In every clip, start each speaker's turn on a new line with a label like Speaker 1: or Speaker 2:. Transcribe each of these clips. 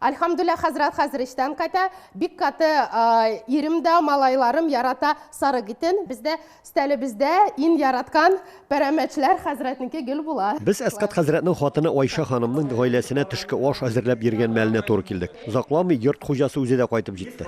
Speaker 1: Альхамдуллә хәзрәт хәзер эчтән ката, бик каты ирем дә, малайларым ярата сарык итен. Бездә стәлебездә ин яраткан пәрәмәчләр хәзрәтнеке гел була. Без Әскат хәзрәтнең
Speaker 2: хатыны Айша ханымның гаиләсенә төшке аш әзерләп йөргән мәленә туры килдек. Озакламый йорт хуҗасы үзе дә кайтып җитте.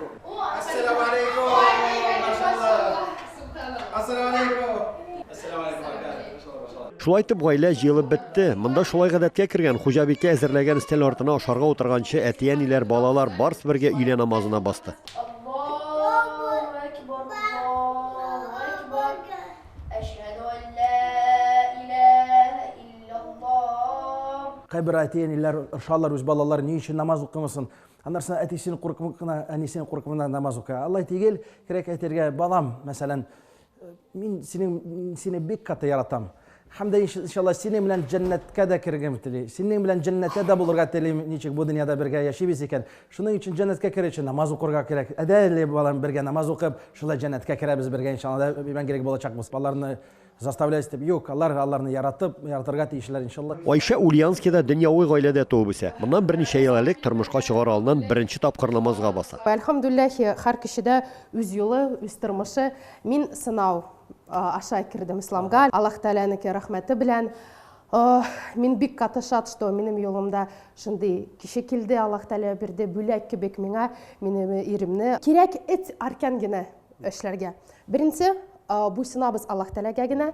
Speaker 2: Шулай итеп, гаилә җыелып бетте. Монда шулай гадәткә кергән, хуҗабикә әзерләгән өстәл артына ашарга утырганчы, әти-әниләр, балалар, барс бергә өйлә намазына басты.
Speaker 3: Кайбер әти-әниләр ыршалар, үз балалары ни өчен намаз укымасын. Аннарсына әтисен куркып кына, әнисен куркып кына намаз укый. Алай тигел, кирәк әйтергә, балам, мәсәлән, Мин синең сине бик каты яратам. Һәм дә иншалла синең белән җәннәткә дә кергән тели. Синең белән җәннәттә дә булырга тели, ничек бу дөньяда бергә яшибез икән. Шуның өчен җәннәткә керү өчен намаз укырга кирәк. Әдәле балам бергә намаз укып, шулай җәннәткә керәбез бергә иншалла. Мәңгелек булачакбыз. Баларны заставлять дип юк, алар аларны яратып, яратырга тиешләр иншалла. Айшә Ульянскида
Speaker 2: дөньяви гаиләдә туып үсә. Моннан берничә ел элек тормышка чыгар алыннан беренче тапкыр намазга баса. Әлхәмдүлләһи, һәр
Speaker 1: кешедә үз юлы, үз тормышы. Мин сынау аша кердем исламга. Аллаһ Тәгаләнеке рәхмәте белән мин бик каты шат, что минем юлымда шундый кеше килде, Аллаһ Тәгалә бирде, бүләк кебек миңа, минем иремне. Кирәк эт аркан генә эшләргә. Беренче буйсынабыз Аллаһ Тәгаләгә генә,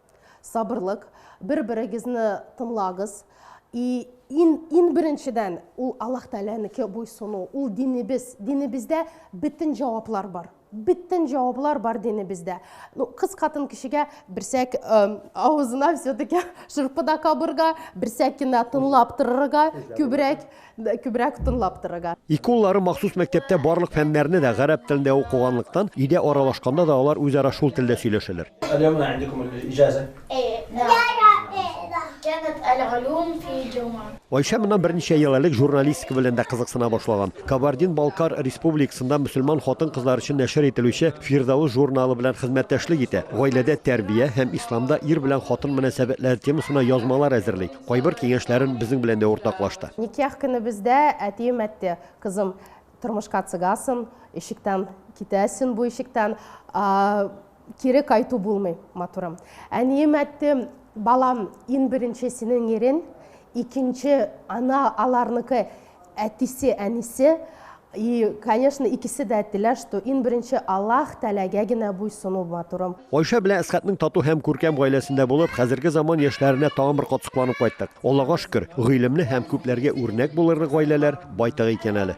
Speaker 1: Сабырлык, бер-берегезне тыңлагыз. И, ин, ин беренчедән, ул Аллаһ Тәгаләнеке буйсыну, ул динебез. Динебездә бөтен җаваплар бар. Бөтен җаваплар бар динебездә. Ну, кыз хатын кешегә берсәк э, авызына все-таки шырпы да кабырга, берсәк кенә тыңлап торырга, күбрәк Күбрәк тыңлап торырга. Ике уллары махсус
Speaker 2: мәктәптә барлык фәннәрне дә гарәп телендә укыганлыктан, өйдә аралашканда да алар үзара шул телдә сөйләшәләр. Айшә моннан берничә ел элек журналистика белән дә кызыксына башлаган. Кабардин-Балкар Республикасында мөселман хатын-кызлар өчен нәшер ителүче Фирдәвес журналы белән хезмәттәшлек итә, гаиләдә тәрбия һәм исламда ир белән хатын мөнәсәбәтләре темасына язмалар әзерли. Кайбер киңәшләрен безнең белән дә уртаклашты. Никях көнебездә
Speaker 1: әтием әйтте, Кызым, тормышка чыгасың, ишектән китәсең, бу ишектән кире кайту булмый, матурым. Әнием әйтте, Балам, иң беренче синең ирең, икенче ана аларныкы. Әтисе, әнисе, и, конечно, икесе дә әйттеләр, что иң беренче Аллаһ Тәгаләгә генә буйсыну матурым. Айшә белән Әсхәтнең
Speaker 2: тату һәм күркәм гаиләсендә булып, хәзерге заман яшьләренә тагын бер кат сокланып кайттык. Аллага шөкер, гыйлемле һәм күпләргә үрнәк булырлык гаиләләр байтак икән әле.